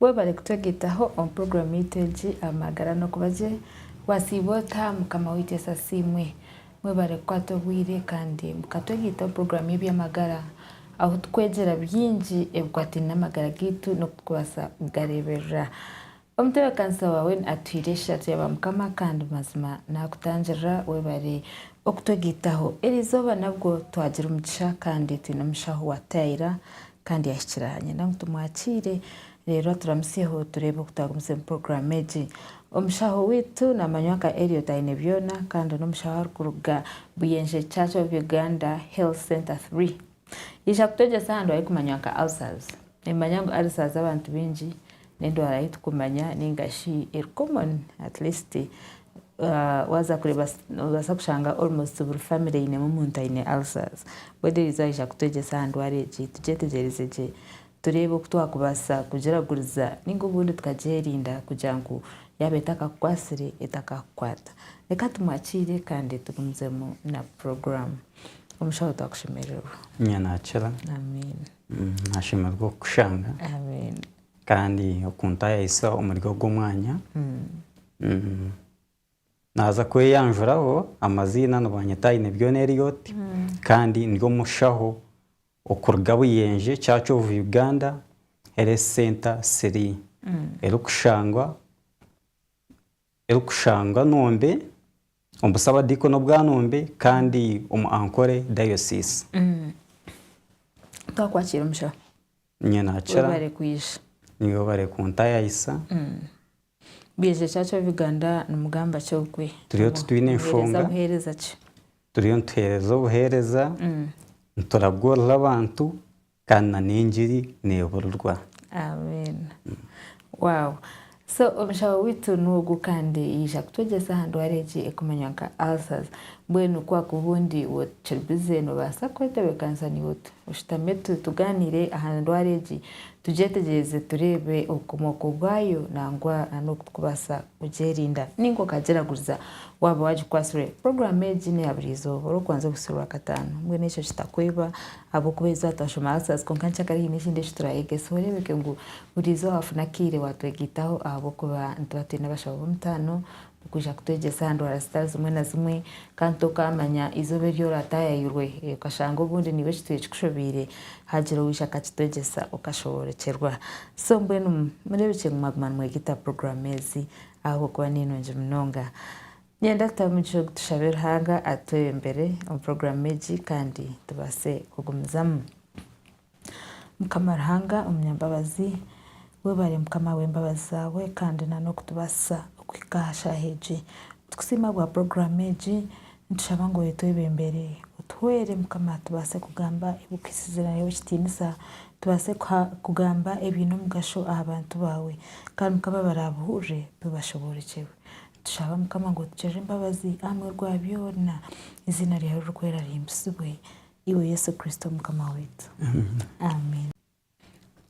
Webare kutwegyeitaho omu puroguramu yaitu egi Amagara Nokuba Gye. Waasiiba ota, Mukama waitu Yesu Asiimwe. Mwebare kukwata obwire kandi buka twegaitaho puroguraamu y'eby'amagara ahu tukwegyera bingi ebikwataine n'amagara gaitu n'oku turikubaasa kugareeberera. Omutebeekanisa waawe atuhaire eshagye ya Baamukama kandi mazima naakutangirira. Webare okutwegaitaho. Eri izooba nabwo twagira omugisha kandi twine omushaho owaataayaayira kandi yaahikira aha nyenda ngu tumwakiire. Reero aturamutsyeho tureebe oku twagumizeemu puroguraamu egi. Omushaho waitu naamanywa nka Elliot Ainebyona kandi n'omushaho arikuruga Buyenje Church of Uganda Health Centre Three. Yaija kutwegyesa aha ndwara erikumanywa nka ulcers. Nimumanya ngu ulcers z'abantu baingi n'endwara ei turikumanya nainga shi eri common at least waaza kureeba noobaasa kushanga almost buri famire einemu omuntu aine ulcers. Mbwenu Eliza aija kutwegyesa aha ndwara egi tugyetegyereze gye Tureebe oku twakubaasa kugiraguriza nainga obundi tukagyerinda kugira ngu yaaba etakakukwatsire etakakukwata. Reka tumwakiire kandi tugumizemu na puroguraamu. Omushaho twakushemererwa. Ninya naakira. Amiina. Nashemererwa okukushanga. Amiina. Kandi okuntaayayisa omuri ogu omwanya. Naaza kweyanjuraho amaziina nibanyeta Ainebyona Elliot kandi ndi omushaho okuruga Buyenje Church of Uganda Health Centre Sri erikushangwa erikushangwa Nombe omu Busabadiikoni obwa Nombe kandi omu Ankole Diocese. Twakwakira omushaho. Niinye nakira. Webare kwija. Webare kuntayayisa. Bwije ki acu ab'Uganda nimugamba ki okwe? Turiyo titwine nshonga. Buheereza ki? Turiyo nituheereza obuheereza, nituraguurira abantu kandi na n'engiri neburirwa. Amen. Wow. So omushaho waitu n'ogwo kandi yaija kutwegyesa aha ndwara egi ekumanywa nka ulcers. Mbwenu ku akuba ondi kiri bize noobaasa kwetebeekanisa naiwe oti. Oshutame tu tugaaniire aha ndwara egi tugyetegyereze tureebe obukomooko bwayo nangwa n'oku turikubaasa kugyerinda nainga okagyeraguriza waaba waagikwasirwe. Puroguraamu egi n'eya buri izooba orikubanza obutsirwe Rwakataano. Mbwenu ekyo kitakweba Ahabw'okuba eizooba twashoma Answers kwonka nkyakare haine ekindi eki turaayega. Esiho oreebeke ngu buri izooba waafuna akaire waatwegaitaho ahabw'okuba nituba twine abashaho b'omutaano b'okwija kutwegyesa aha ndwara zitari zimwe na zimwe. Ka ntu okaamanya eizooba eri oraataayayirwe okashanga obundi niiwe kitwire kikushobeire, haagira owija akakitwegyesa okashoboorokyerwa. So mbwenu mureebekye ngu mwaguma nimwegaita puroguraamu ezi ahabw'okuba ni nungi munonga. Niinyenda kutaho omugisha ogu tushabe Ruhanga atwebembere omu puroguraamu egi kandi tubaase kugumizamu. Mukama Ruhanga omunyambabazi, webare Mukama ahabw'embabazi zaawe kandi na n'okutubaasisa okuhika aha shaaha egi. Nitukusiima ahabwa puroguraamu egi, nitushaba ngu oyetwebembere. Otuhwere Mukama tubaase kugamba ebikuhisize nari ebikitiinisa, tubaase kugamba ebiine omugasho aha bantu baawe. Kandi Mukama baraabuhurire bibashoboorokyerwe. Tushabe Mukama ngu otugirire embabazi aha muheru gwa byona. Eiziina ryawe ririkwera rihimbisibwe. Iwe Yesu Kristo Mukama waitu. Amen.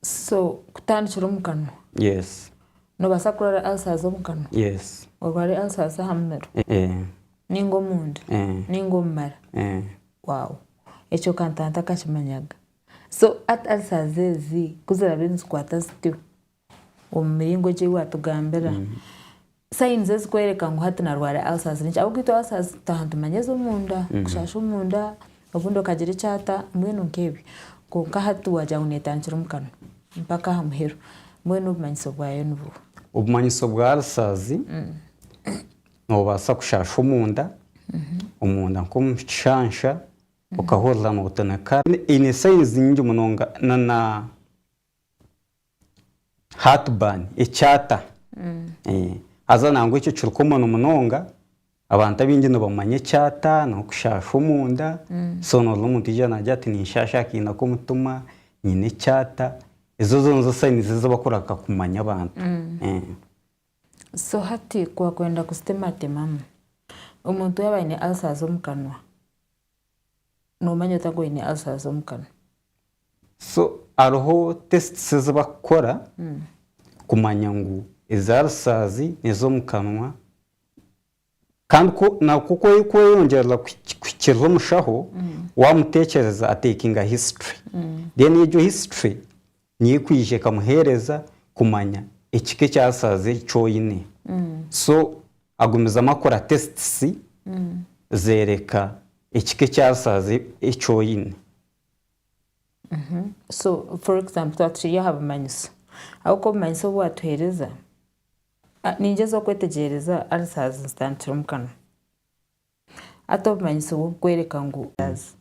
So kutandikira omu kanwa. Yes. Noobaasa kurwara ulcers omu kanwa. Yes. Orware ulcers aha muheru. Eeh. Nainga omunda. Eeh. Nainga omu mara. Eeh. Wow. Ekyo ka ntantakakimanyaga. So at ulcers ezi ku ziraabe nizikwata zityo. Omu miringo egi ei waatugambira, sayinizi ezikworeka ngu hati naarwara ulcers ni ki? Ahabw'okugira itwe ulcers tutaha nitumanya ez'omunda, kushaasha omunda, obundi okagira eki ata, mbwenu nk'ebyo. Kwonka hati waagira ngu neetandikira omu kanwa mpaka aha muheru, mbwenu obumanyiso bwayo ni buha? Obumanyiso bwa ulcers, noobaasa kushaasha omunda, omunda nk'omu kishansha, okahurira nootonekara. Eine sayinizi nyingi munonga, Heartburn, ekyata, haza nangwa ekyo kiri common munonga, abantu abaingi nibamanya ekyata n'okushaasha omunda, so nooza omuntu yaija naagira ati ninshaasha aha kaina k'omutima, nyine ekyata, ezo zoona nizo sainizi ezi barikureeba kumanya abantu. So hati ku waakwenda kuzitematemamu, omuntu yaaba aine ulcers omu kanwa, noomanya ota ngu aine ulcers omu kanwa? So hariho tests ezi bakukora kumanya ngu ezi ulcers nezo omu kanwa kandi ku naku ku eri kweyongyerera kuhikirira omushaho wamutekyereza a takinga history then egyo history niyo ekwija ekamuhereza kumanya ekika ekya ulcers eki oyine so agumizamu akora tests zereka ekika ekya ulcers eki oyine. So for example twaba turi aha bumanyiso, ahabw'okuba obumanyiso obu waatuheereza, niingyezahoo kwetegyereza ulcers zitandikira omu kanwa, hati obumanyiso bw'okukworeka ngu ulcers,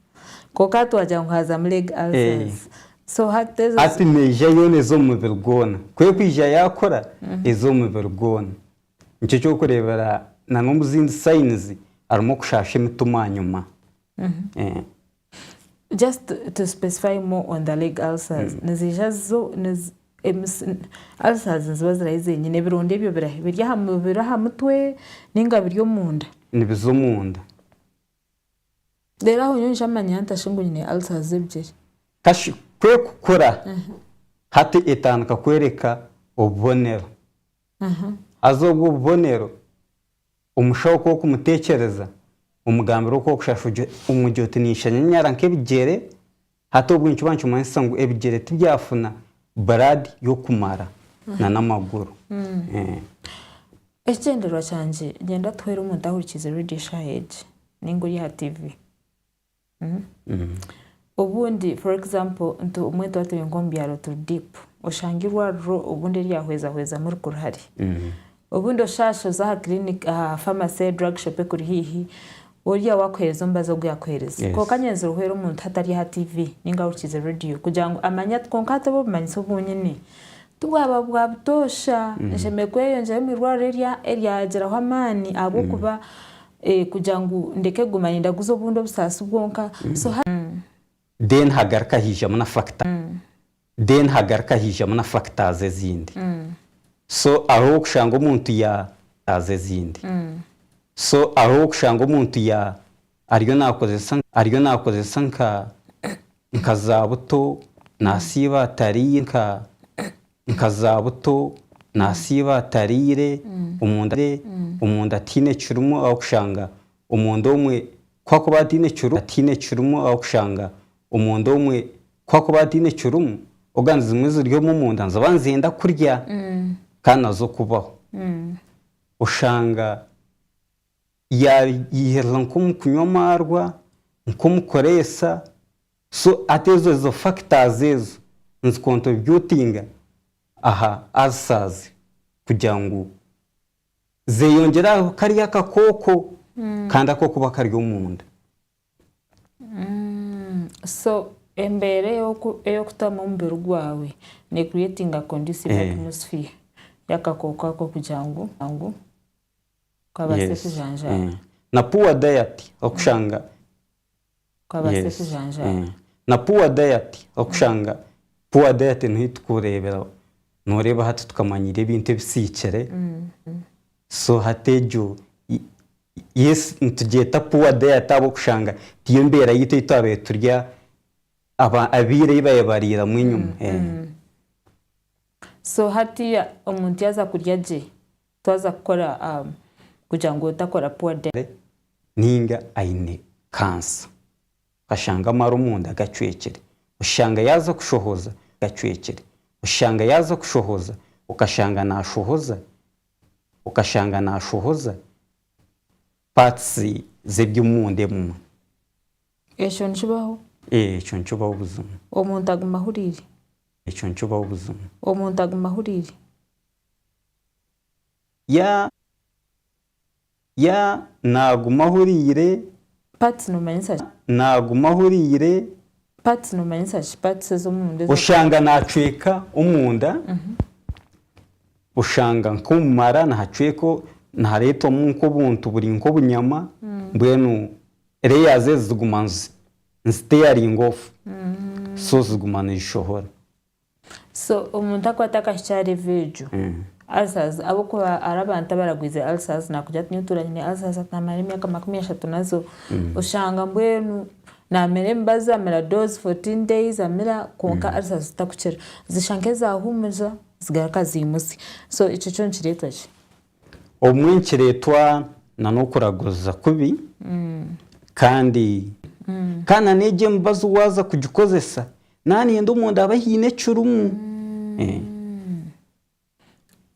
kwonka hati waagira ngu haazamu leg ulcers, so hati ezo. Hati neija yoona eze omu mubiri gwona, ku erikwija yaakura eze omu mubiri gwona. Nikyo ky'okureebera n'omu zindi sayinizi harimu okushaasha emitima aha nyima. Just to specify more on the leg ulcers, niziija zo ulcers niziba ziri ahi zenyine, ebironda ebyo biri ahi? Biri aha mutwe ninga biri omunda? Nibiza omunda. Reero aho nyowe nshamanya nta shi ngu nyine ulcers z'ebigyere? Ta shi kwekukura hati etandika kworeka obubonero. Haza obwo obubonero Omushaho kw'okumuteekyereza, omugambira okw'okushasha omugye oti ninshanyanyara nk'ebigyere, hati obwe nikiba nikimanyisisa ngu ebigyere tibyafuna blood y'okumara na n'amaguru. Ekigyendererwa kyangye, gyenda tuheere omuntu ahurikiize Radio Shaaha egi, ninga ori aha TV. Obundi for example nti obumwe nituba turi nk'omu byaro turi deep, oshanga eirwariro obundi ryahwezahwezamu rikuru hare. Obundi oshaasha oze aha clinic aha pharmacy, drug shop ekuri haihi, ori awo akuheereze omubazi ogu yakuheereze. Yes. Kwonka anyenzire ohwere omuntu hati ari aha TV ninga ahurikiize radio kugira ngu amanye ati kwonka hati obu obumanyitsi obu nyine tibwaba bwa butoosha, nshemereire kweyongyera omu irwariro erya eryagyeraho amaani ahabw'okuba Kugira ngu ndeke kuguma nindaguza obundi obusaasi bwonka so hati. Then hagaruka haijamu na factor then hagaruka haijamu na factors ezindi so hariho ow'okushanga omuntu ya factors ezindi so hariho ow'okushanga omuntu ya ariyo nakozesa ariyo nakozesa nka nka za buto nasiiba atariiyo nka. Nka zaabuto, naasiiba atariire, omunda tihaine kirimu ahabw'okushanga omunda omwe ku akuba ataine kirimu, tihaine kirimu ahabw'okushanga omunda omwe ku akuba ataine kirimu, ogandi zimwe ziri omu munda niziba nizenda kurya kandi nazo kubaho. Oshanga yaayeheriza nk'omu kunywa amaarwa, nk'omu kureesa, So ati ezo ezo factors ezo nizi contributinga aha ulcers kugira ngu zeyongyere aha kariya akakooko kandi ako kuba kari omunda. So embeera ey'okutamu omubiri gwawe ne creatinga conducive atmosphere y'akakooko ako kugira ngu kabaase kujanjaara. Na poor diet okushanga Okabaase Yes. kujanjaara. Na poor diet, okushanga poor diet niho etukureebera, noreeba hati tukamanya irya ebintu ebisiikire, so hati egyo y- yes nitugyeta poor diet ahabw'okushanga tiyo mbeera yaitu ei twabaire turya aba- abairu ei babaire bariiramu enyima. So hatiiya omuntu yaaza kurya gye, Twaza kukora kugira ngu otakora poor debt. Ninga aine kansa okashanga amara omunda gacwekire oshanga yaza kushohoza gacwekire oshanga yaza kushohoza okashanga nashohoza okashanga nashohoza parts zebyomunda ebimwe. Ekyo nikibaho? Ekyo nikibaho buzima. Omuntu aguma ahurire? Ekyo nikibaho buzima. Omuntu aguma ahurire? Ya Ya Naaguma ahuriire Parts nomanyisa ki? Ya Naaguma ahuriire Parts nomanyisa ki? Parts ez'omunda ezi Oshanga naacweka omunda Oshanga nk'omu mara nihacweka nihareetwamu nk'obuntu buri nk'obunyama mbwenu layers ezi ziguma nizi tearing off so ziguma nizishohora. So omuntu akwata akahikyo aha level egyo, ulcers ahabw'okuba hariho abantu abaragwize ulcers nakugira ati nyowe tuura nyine ulcers ati namara emyaka makumi ashatu nazo, oshanga mbwenu namira emibazi, amira dose fourteen days amira kwonka ulcers zitakukira, zishusha nk'ezahuumuriza zigaruka zimutsya, so ekyo kyo nikireetwa ki? Obumwe nikireetwa na n'okuraguriza kubi kandi kandi na n'egi emibazi waaza kugikozesa naaba neyenda omunda habe haine ekirimu.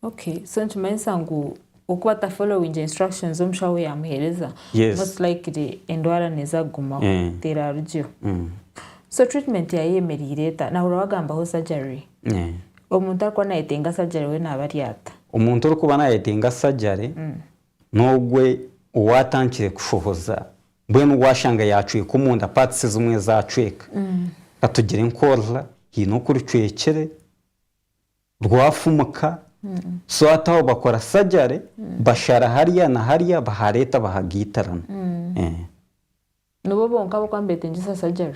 Okay so nikimanyisa ngu oku ata followinga instructions ezi omushaho yaamuheereza most likely endwara neeza kugumaho teraarugyeo. So treatment yaayo eyemereire eta? Naahurira waagambaho surgery. Omuntu arikuba nayetenga sajare we naaba ari ata? Omuntu orikuba nayetenga sajare n'ogwe owaatandikire kushohoza mbwenu waashanga yaacweka omunda, parts ezimwe ezi acweka. Katugire nk'oruhara haine oku rucwekire, rwafumuka, so hati aho bakora sajare, bashara hariya na hariya bahareeta bahagaitirana. Nibo bonka abarikuba nibetengyesa sajare?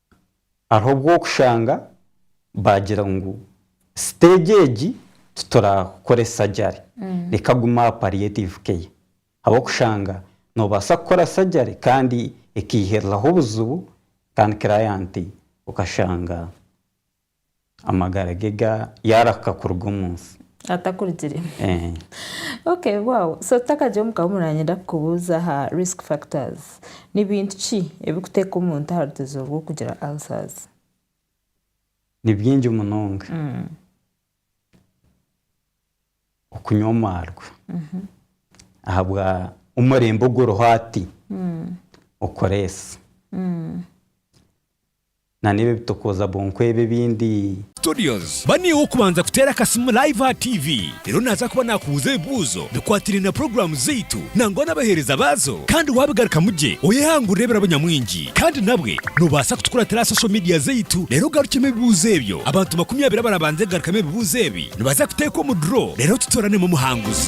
Hariho obu okushanga baagira ngu siteegi egi titurakoresa gyari, reka agume aha palliative care ahabw'okushanga noobaasa kukora surgery kandi ekaihiriraho obuzibu kandi client okashanga Amagara ge ga yaarahuka kuruga omu nsi. Atakurugiremu. Eeh. Ok, wow. So tutakagire omu kahuumuro nanyenda kukubuuza aha risk factors. Ni bintu ki ebirikuteeka omuntu aha rutegyero rw'okugira ulcers? Ni bingi munonga. Okunywa amaarwa ahabwa omurembe oguriho hati, okureesa. Na n'ebi ebitokoza bwonko ebi ebindi. Studios, ba naiwe okubanza kuteera akasimu live aha TV. Reero naaza kuba naakubuuza ebibuuzo bikwatiraine na puroguraamu zaitu nangwa n'abaheereza baazo kandi waabigarukamu gye oyehangurire ebirabo nyamwingi. Kandi nabwe noobaasa kutukuratira aha social media zaitu reero ogarukyemu ebibuuzo ebyo. Abantu makumi abiri abarabanze kugarukamu ebibuuzo ebi nibaza kuteekwa omu draw reero tutooranemu omuhanguzi.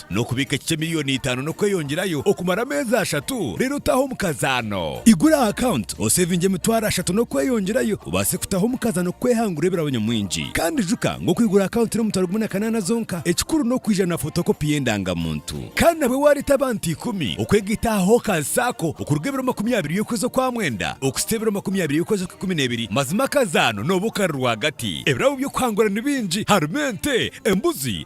N'okubiika ekice milioni itaano n'okweyongyerayo okumara ameezi ashatu, reero otaahe omukazaano. Igura aha akawunti osevinge emitwaro ashatu n'okweyongyerayo obaase kutaho omukazaano kwehangura ebirabo nyamwingi. Kandi ijuka ngu okwigura akawunti n'omutwaro gumwe na kanaana zonka, ekikuru n'okwiija na fotokopi y'endangamuntu. Kandi nabwo waareeta abantu ikumi okwegaita aha Hawkers Sacco okuruga ebiro makumi abiri y'okwezi okwa mwenda okuhitsya ebiro makumi abiri y'okwezi okw'ikumi n'ebiri, mazima akazaano nooba okari rwagati. Ebirabo by'okuhangura ni bingi, harimu ente, embuzi,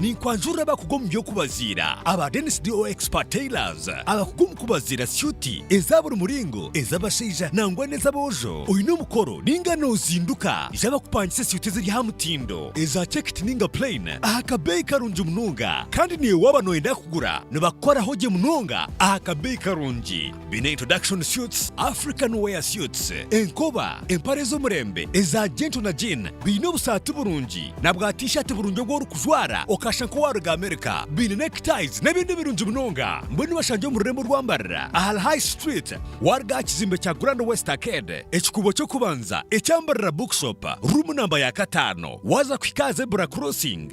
Ninkwanjurira abakuga omu by'okubaziira aba Dennis DO Expert Tailors abakuga omu kubaziira syuti eza buri muringo, ez'abashaija nangwa n'ez'aboojo. Oine omukoro ninga nozinduka? Ija bakupangise syuti eziri aha mutindo, eza checked ninga plain aha kabeeyi karungi munonga. Kandi niiwe waaba noyenda kugura nibakukoraho gye munonga aha kabeeyi karungi. Baine introduction suits, African wear suits, enkoba, empare z'omurembe eza gentle na jean, baine obusaati burungi na bwa t-shirt burungi obu orikujwara okashusha nk'owaaruga America, baine neckties n'ebindi birungi munonga. Mbwenu bashangye omu rurembo orwambarira ahari High Street waaruga aha kizimbe kya Grand West Arcade, ekikuubo ky'okubanza ekyambarira Bookshop, ruumu namba ya kataano waaza kuhika aha Zebra Crossing.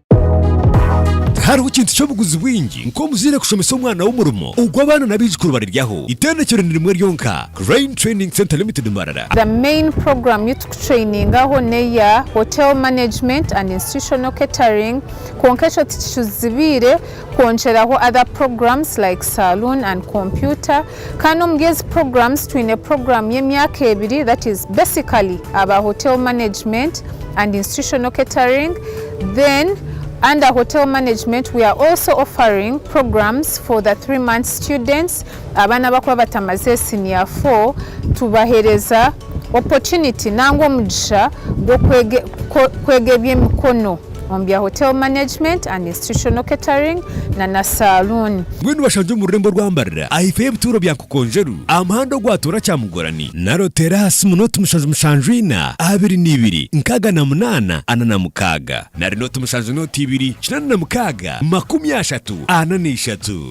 Tihariho kintu ky'obuguzi bwingi nk'omuzaire kushomesa omwana we omurimo ogu abaana n'abaijukuru bariryaho. Itendekero ni rimwe ryonka, Crane Training Centre Limited Mbarara. The main program yu tukutrainingaho neya Hotel Management and Institutional Catering kwonka ekyo tikicuzibiire kwongyeraho other programs like Saloon and Computer. Kandi omuri ezi programs twine program y'emyaka ebiri that is basically aba hotel management and institutional catering then under hotel management we are also offering programs for the three months students abaana abakuba batamaze senior four tubahereza opportunity nangwa omugisha gw'okwega eby'emikono. omu bya Hotel Management and Institutional Catering na na Saluuni. Mbwenu bashangye omu rurembo rwa Mbarira aha ifo y'ebituuro bya Nkokonjeru aha muhanda ogwatoora Kyamugorani, naro teera aha simu nooti mushanju mushanju ina, abiri na ibiri, nkaaga na munaana, ana na mukaaga. Nari nooti mushanju nooti ibiri, kinaana na mukaaga, makumi ashatu, ana na ishatu.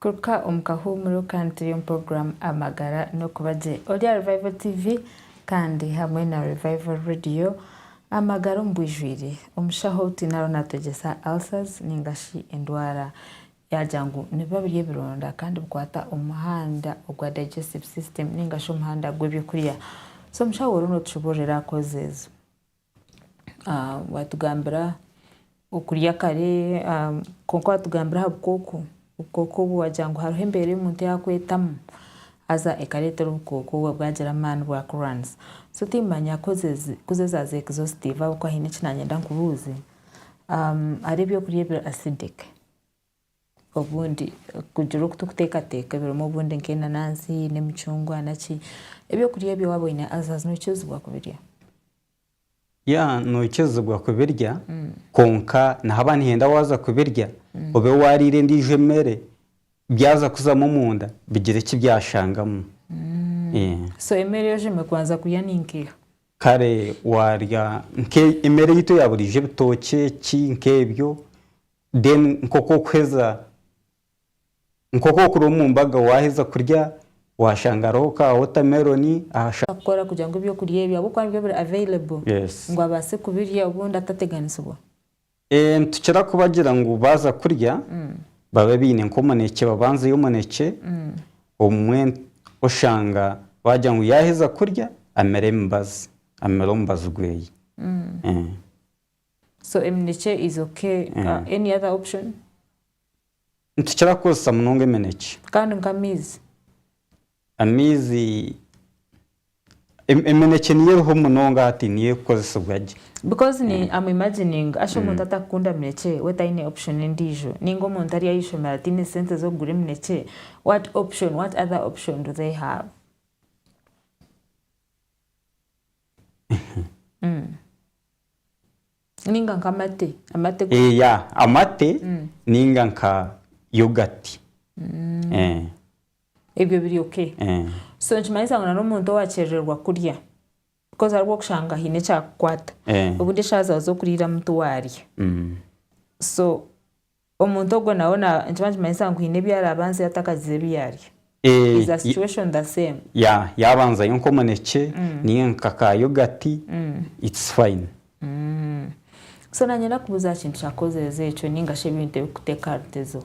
Kuruka omu kahuumuro ka Antiriyomu Puroguramu Amagara n'okuba gye. Ori aha Revival TV kandi hamwe na Revival Radio Amagara omu bwijwire. Omushaho ou twine ariho naatwegyesa ulcers nainga shi endwara yaagira ngu nibiba biri ebironda kandi bikwata omu muhanda ogwa digestive system nainga shi omuhanda gw'eby'okurya. So omushaho oriho nootucuburira kozi ezo. Watugambira okurya kare kwonka watugambira aha bukooko, obukooko obwo wagira ngu hariho embeera ei omuntu yaakwetamu haza ekareetera obukooko obwo bwagira amaani bwakurwanyisa. So tiimanya ku ezi zaaza exhaustive ahabw'okuba haine eki naayenda nkubuuze. Hariho ebyokurya ebiri acidic? Obundi kugira oku turikuteekateeka ebirimu obundi nk'enanansi n'emicungwa naki. Eby'okurya ebyo waaba oine ulcers noikizibwa kubirya? Ya noikizibwa kubirya kwonka nihaba nihenda waaza kubirya obe waariire endiijo emere byaza kuzamu omunda bigire eki byashangamu. So emere ei ogimu kubanza kurya ni nkiiha? Kare waarya nk'emere yaitu eya buriijo ebitookye ki nk'ebyo Then nk'oku okuheza nk'oku okuri omu mbaga waaheza kurya waashanga hariho ka watermelon aha shaaha. Kukora kugira ngu eby'okurya ebyo ahabw'okuba nibyo biri available Yes. ngu abaase kubirya obundi atateganisibwa. Eeh nitukira kubagira ngu baaza kurya babe baine nk'omunekye babanzeyo omunekye obumwe oshanga baagira ngu yaaheza kurya amire emibazi amire omubazi gweye. So eminekye is okay any other option? Nitukira kukozesa munonga eminekye. Kandi nka amaizi? Amaizi eminekye niyo eriho munonga hati niyo erikukozesibwa gye. Because ni am imagining ashu omuntu atakukunda minekye we tayine option endijo ninga omuntu ari ahishomero atine sente zokugura eminekye what option what other option do they have? Ninga nka amate, amate go. Eeh ya, amate ninga nka yogati. Ebyo biri okay. So nikimanyisa ngu nari omuntu owakyerererwa kurya because hariho okushanga haine ekyakukwata, obundi eshaaha zaawe z'okuriiramu tiwarya. So Omuntu ogwo nawe nikiba nikimanyisa ngu haine ebi araabe anzire atakagize ebi yaarya. Is the situation the same? Yeah, yaabanzayo nk'omunekye nainga nka ka yogati, it's fine. So naanye nakubuuza aha kintu kya kozerezo ekyo nainga shi ebintu ebirikuteeka aha rutezo.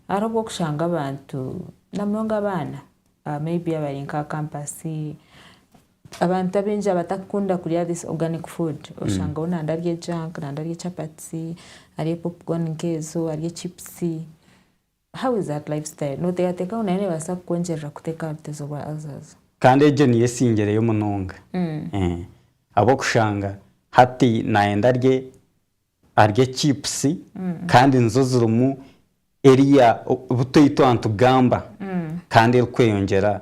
Hariho obu orikushanga abantu, namunonga abaana, maybe abari nk'aha kampasi, Abantu abaingi abatakukunda kurya this organic food oshangaho nande arya ejunk nande arya chapati arya popcorn nkezo arya chips how is that life style noteekateeka ngu nayo nebaasa kukwongyerera kuteeka ahabutezo bwa ulcers? Kandi egyo niyo esingireyo munonga ahabwokushanga hati nayenda arye arye chips kandi nizo zirimu eriya butoito aha nitugamba kandi erikweyongyera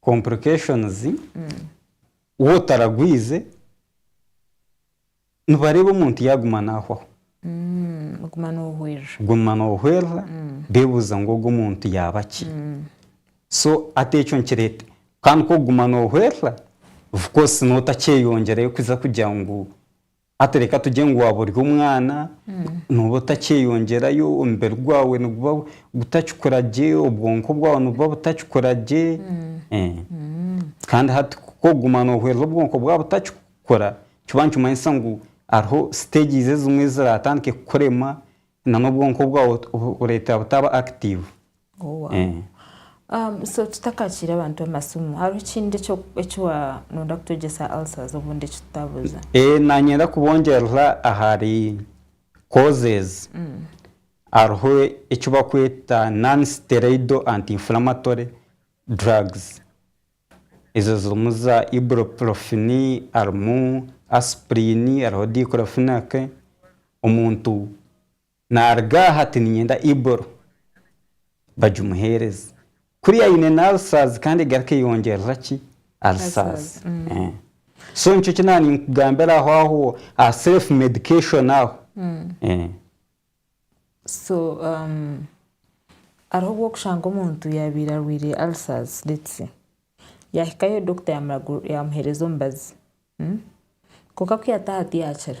complications waaba otaragwize nibareeba omuntu yaguma nahwaho, guma nohwerera bebuuza ngu ogu omuntu yaaba ki? so hati ekyo nikireta kandi kuguma nohwerera of course notakyeyongyerayo kugira ngu Hati reka tugye ngu waaba ori omwana, nooba otakyeyongyerayo, omubiri gwawe niguba gutakikura gye, obwonko bwawe nibuba butakikura gye. Kandi hati ku oguma noohwereza obwonko bwaba butakikukura, nikiba nikimanyisa ngu hariho stages ezimwe eziraatandike kukurema, na n'obwonko bwawe bureetera butaaba active. Oh wow. Eh. Um, so tutakakiire abantu amasimu hariho ekindi ekyo- ekiwa noyenda kutwegyesa ulcers obundi ekitutabuuza Eh, nanyenda kubongyerera ahari causes hariho eki bakweta non steroidal anti inflammatory drugs ezo zirimu za ibuprofen harimu aspirin hariho diclofenac omuntu Naaruga aha ati niinyenda Ibur bagimuheereze. Kuriya aine n'alcers kandi egaruka eyongyerera ki? Alcers. So nikyo ki naaba ninkugambira aho aho aha self medication aho. So hariho obu orikushanga omuntu yaabaire arwaire alcers let's say, yaahikayo doctor yaamuragu yaamuheereza omubazi, kwonka ku yaataaha tiyaakira.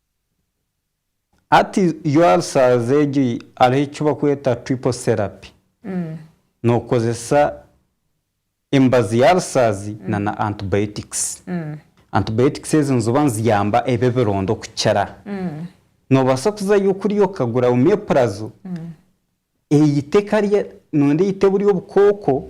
Hati yo ulcers egyo hariho eki barikweta triple therapy. Nokozesa emibazi ya ulcers na na antibiotics. Antibiotics ezo niziba niziyamba ebyo ebironda okukira. Nobasa kuzayo kuriya okagura omeprazole eyita ekarya nondi eyita burya obukooko.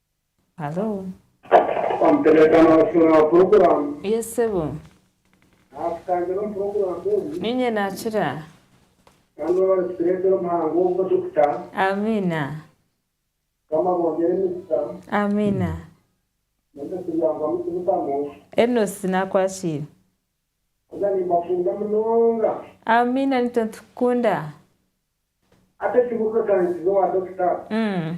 Halo. Eeh sebo. Ninye nakira. Amiina. Amiina. Enosi nakwasiire. Amiina nitwe nitukukunda. Umm.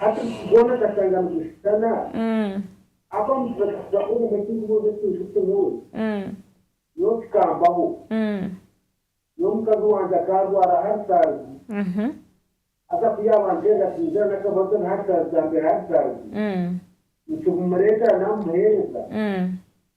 Hati buti gwona akashanga nigushutana, afa nitubakiza ku obumwe tinkubuuza ekintu ki nyowe. Nyowe kikambaho. Nyowe mukazi wangye akaarwara haritazi, haza ku yaaba anteerera twingira n'akabazo na haritazi zaambeera haritazi, nikibumureetera naamuheereza.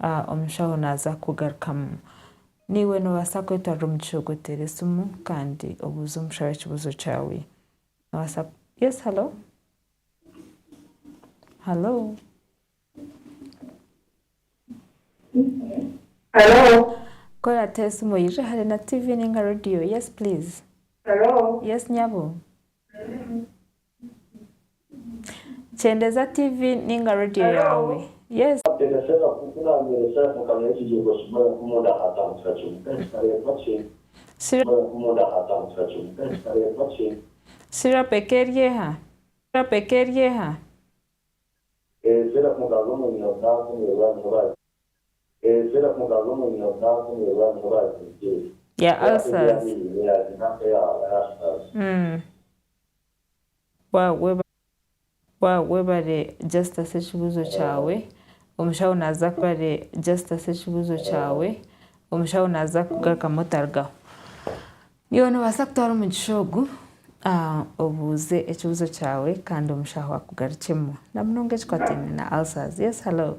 A Omushaho naaza kukugarukamu. Naiwe noobaasa kwetwarira omu kishuuga oteere esimu kandi obuuze omushaho ekibuuzo kyaawe. Noobaasa ku Yes halo? Halo? Halo? Kora ata esimu oyijuhe hare na TV nainga radio. Yes please? Halo? Yes nyabo? Kyendeza TV ninga radio yaawe. Yes. Syrup eka eri eha? Syrup eka eri eha? Ezira mukazi omwine obunansi nirwo arimu bazigire Ya Ku ate ulcers. byona iyi ni ya zina nka eya ulcers. Waawa webare Justus ekibuuzo kyawe omushaho naza webare Justus ekibuuzo kyawe omushaho naza kugarukamu otarugaho Iwe nobasa kutwara omugisha ogu obuuze ekibuzo kyawe Kandi omushaho akugarukyemu namunonga ekikwataine na ulcers Yes hallo.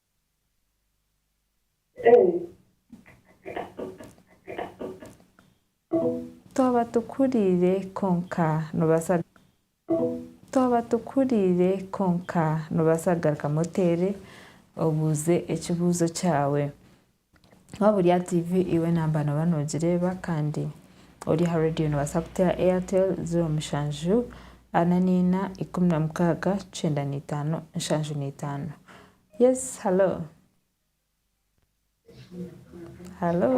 Twaba tuhuriire kwonka noobaasa Twaba tuhuriire kwonka noobaasa kugarukamu otere obuuze ekibuuzo kyawe. Waaba ori aha tiivi iwe naaba nooba noogireeba kandi ori aha reediyo noobaasa kuteera Airtel zeero mushanju ana naina ikumi na mukaaga kyenda na itaano nshanju na itaano. Yes halo? Halo?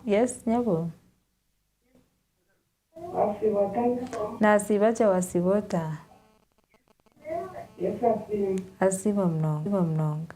Yes nyabo? Naasiiba gye waasiiba ota? Asiimwe munonga.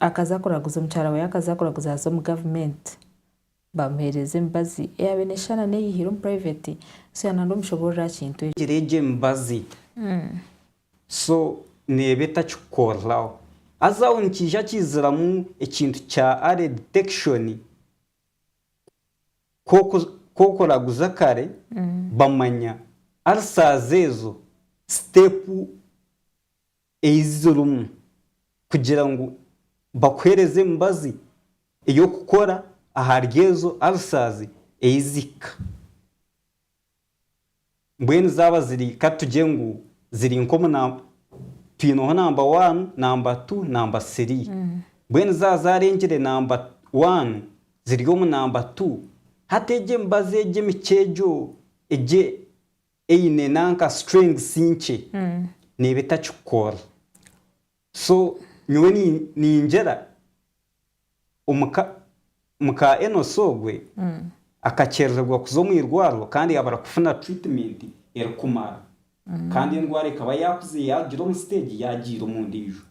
akaza kuraguza omukyara we yakaza kuraguza haza omu government bamuhereza emibazi eyabaire neshushana neyihire omu private so yaba nari omushoborori aha kintu ekyo. Gira egyo emibazi so neeba etakikukoreraho haza aho nikiija kiziramu ekintu kya early detection ku okuraguza kare bamanya ulcers ezo step eizizo rimwe kugira ngu bakuheereze emibazi ey'okukora ahari ezo arisaazi eizihika. Mbwenu zaaba ziri katugye ngu ziri nk'omu namba, twineho namba waanu, namba tu, namba sirii. Mbwenu zaaba zaarengire namba waanu ziri omu namba tu, hati egyo emibazi egyo emikye egyo egyo Eine nanka strengths nkye neeba etakikukora so nyowe ningira omuka muka Enos ogwe akakyerererwa kuza omwirwariro kandi yabura kufuna treatment erikumara kandi endwara ekaba yakuze yarugira omu stage yagiira omundijo.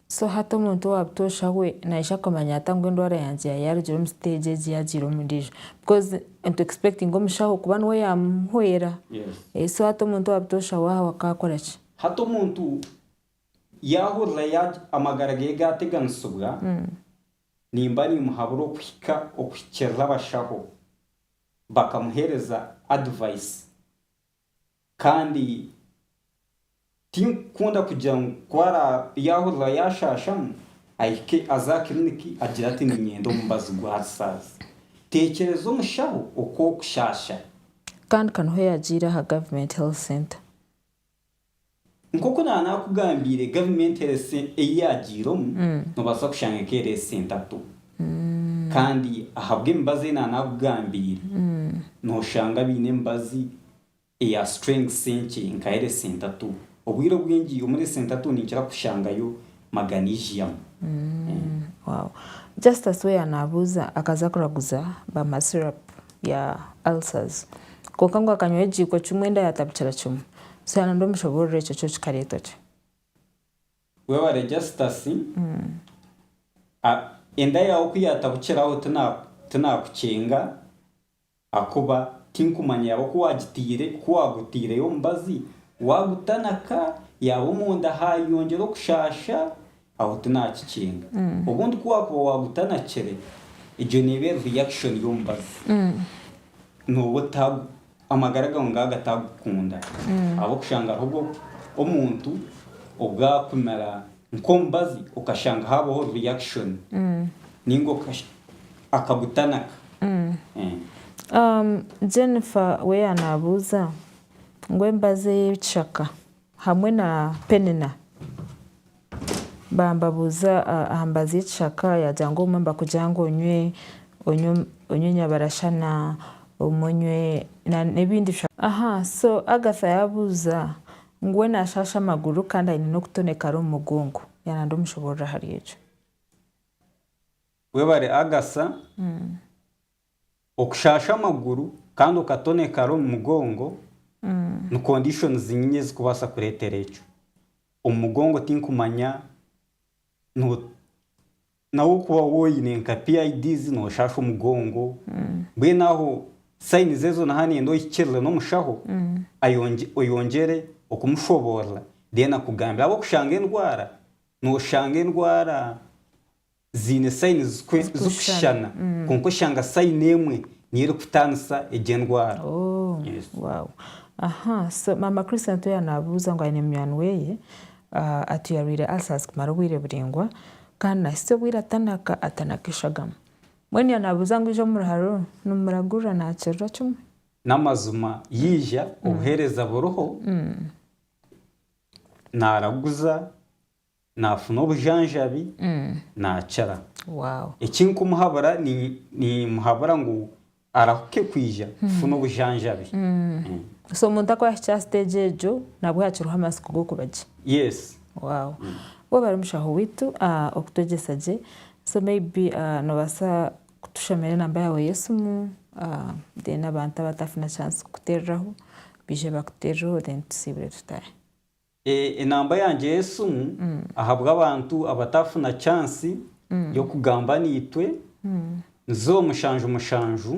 So hati omuntu owa butoosha we naija kumanya ata ngu endwara yangye yaba yaarugire omu stage egi yaagiire omu ndiijo? Because ntu expectinga omushaho kuba niwe yaamuhwera. Yes. So hati omuntu owa butoosha we aho akaakora ki? Hati omuntu yaahurira ya amagara ge gaateganisibwa, nimba niimuhabura okuhika okuhikirira abashaho bakamuheereza advice. Kandi tinkukunda kugira ngu ku araabe yaahurira yaashaashamu, ahike aze aha kiriniki agire ati niinyenda omubazi gw'ahari saazi. Teekyereza omushaho oku okushaasha. Kandi ka niho yaagiire aha Government Health Centre. Nk'oku naaba naakugambiire, Government Health Centre ei yaagiiremu, noobaasa kushanga eka eri esenta tu. Kandi ahabw'emibazi ei naaba naakugambiire, nooshanga baine emibazi eya strings enkye nka eresentatu. Obwire obwingi omuri eresentatu ninkira kushangayo maganesium. Wow. Justus we yanaabuuza akaza kuraguza bama syrup ya ulcers kwonka ngu akanywa ekigiiko kimwe enda yaatabukira kimwe. So yaana ndomushoboorora ekyo kyo kikareeta otwe. Webare Justus. Enda yaawe ku yaatabukiraho tinaakucenga. Ahakuba tinkumanya yaaba ku waagitaire, ku waagutaireyo omubazi, waagutanaka, yaaba omunda haayeyongyera okushaasha, aho tinaakikinga. Obundi ku waakuba waagutanakire, egyo neeba eri reaction y'omubazi, nooba ota, amagara gaawe ngaaga ataagukunda, ahabw'okushanga hariho omuntu ogaakumira Nk'omubazi okashanga haabaho reaction nainga akagutanaka. Jennifer we yaanabuuza ngu embazi ey'ekishaka hamwe na Penina bambabuuza aha mbazi y'ekishaka yaagira ngu obumwe nibakugira ngu onywe enyabarashana obumwe onywe n'ebindi bishaka. Aha so Agatha yaabuuza Ngu we naashaasha amaguru kandi aine n'okutonekara omu mugongo. Yaana ndomushoboorora ahari ekyo. Webare Agasa. Okushaasha amaguru kandi okatonekara omu mugongo ni conditions nyingi ezikubaasa kureetera ekyo. Omu mugongo tinkumanya no. Nawe okuba woine nka PIDs noshaasha omugongo, mbwenu aho signs ezo naha nenda ohikirire n'omushaho oyongyere okumushoboorora then akugambire ahabw'okuba kushanga endwara noshanga endwara ziine signs zirikushushana kwonka oshanga sign emwe niyo erikutaanisa egyo endwara. Maama Christian Toya nabuuza ngu aine munywani weye Atu yarwaire ulcers kumara obwire buraingwa kandi nahitsya obwire atanaka atanaka eshagama. Mbwenu yaaba nabuuza ngu ija omu ruharo nimumuragurira nakirira kimwe. N'amazima yaija obuheereza buriho, naraguza, nafuna obujanjabi, nakira. Ekindikumuhabura, ninyimuhabura ngu Arahuke kwija kufuna obujanjabi. So omuntu aku yahikya aha stage egyo nabwo hakiriho amatsiko g'okuba gye. Yes. Wow. Webale webale mushaho waitu okutwegyesa gye. So maybe nobasa kutushomera enamba yawe y'esimu then abantu abatafuna chance kukutereraho bije bakuterereho then tusiibure tutahe. Enamba yangye y'esimu ahabw'abantu abatafuna chance y'okugamba naitwe ni ziro mushanju mushanju,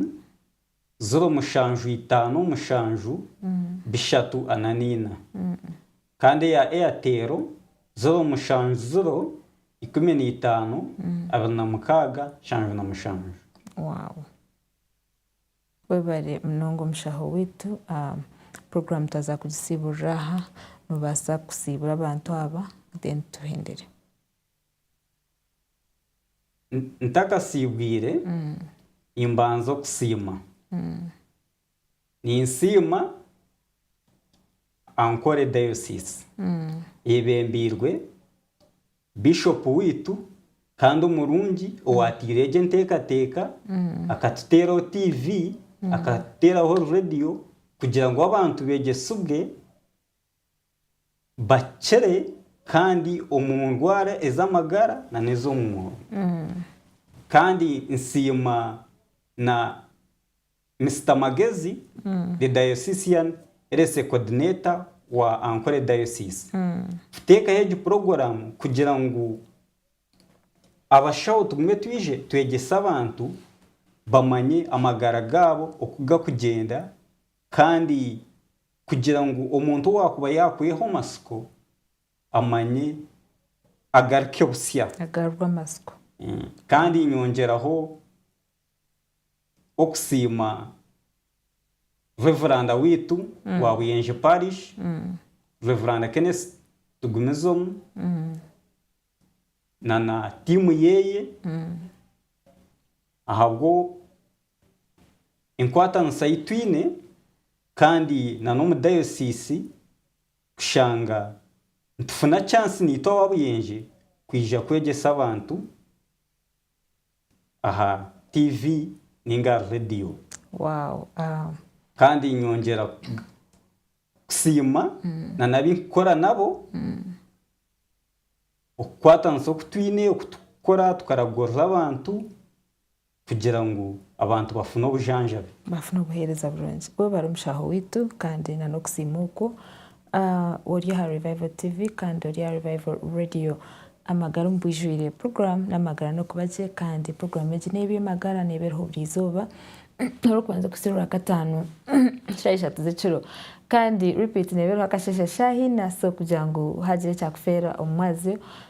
ziro mushanju itaano mushanju, bishatu ana naina. Kandi eya Airtel ziro mushanju ziro, ikumi naitaano, abiri na mukaaga, nshanju na mushanju. Wow. Webare munonga omushaho waitu, program twaza kugisiiburira aha, nobaasa kusiibura abantu aba then tuhendere. Ntakasiibwire nimbanza okusiima. Ninsiima Ankole Diocese eyebembeirwe. Bishopu waitu kandi omurungi owateire egyo enteekateeka akatuteeraho TV, akatuteeraho radiyo kugira ngu abantu beegyesibwe bakire kandi omu ndwara ez'amagara nana ez'omwoyo. Kandi nsiima na Mister Magezi, the Diocesean Rece Coordinator wa Ankole Diocese, kuteekaho egi puroguramu kugira ngu abashaho tugume twije twegyese abantu bamanye amagara gaabo oku gakugyenda kandi kugira ngu omuntu owaakuba yaakweha omatsiko amanye agaruke busya. Agarurwe amatsiko. Kandi nyongyeraho okusiima Reveranda waitu wa Buyenje Parish, Reveranda Kenneth Tugumizomu na na tiimu yeye ahabwo enkwatanisa ei twine kandi na n'omu dayosiisi kushanga nitufuna chance naitwe aba Buyenje kwija kwegyesa abantu. aha TV ninga ahari rediyo. Kandi nyongyera kusiima nana abu ndikukora nabo okukwatanisa oku twine, oku turikukora tukaragurira abantu kugira ngu abantu bafune obujanjabi. Bafune obuheereza burungi. Webare mushaho waitu kandi nana okusiima okwo. Ori aha Revival TV kandi ori aha Revival Radio. Amagara omu Bwijwire puroguraamu n'amagara n'okuba gye kandi puroguraamu egi n'ey'eby'amagara neeba eriho buri izooba orikubanza kuhitsya orwakataano shaaha ishatu z'ekiro kandi repeat neeba eriho akasheeshe shaaha ina so kugira ngu haagira ekyakufeera omu mwazyo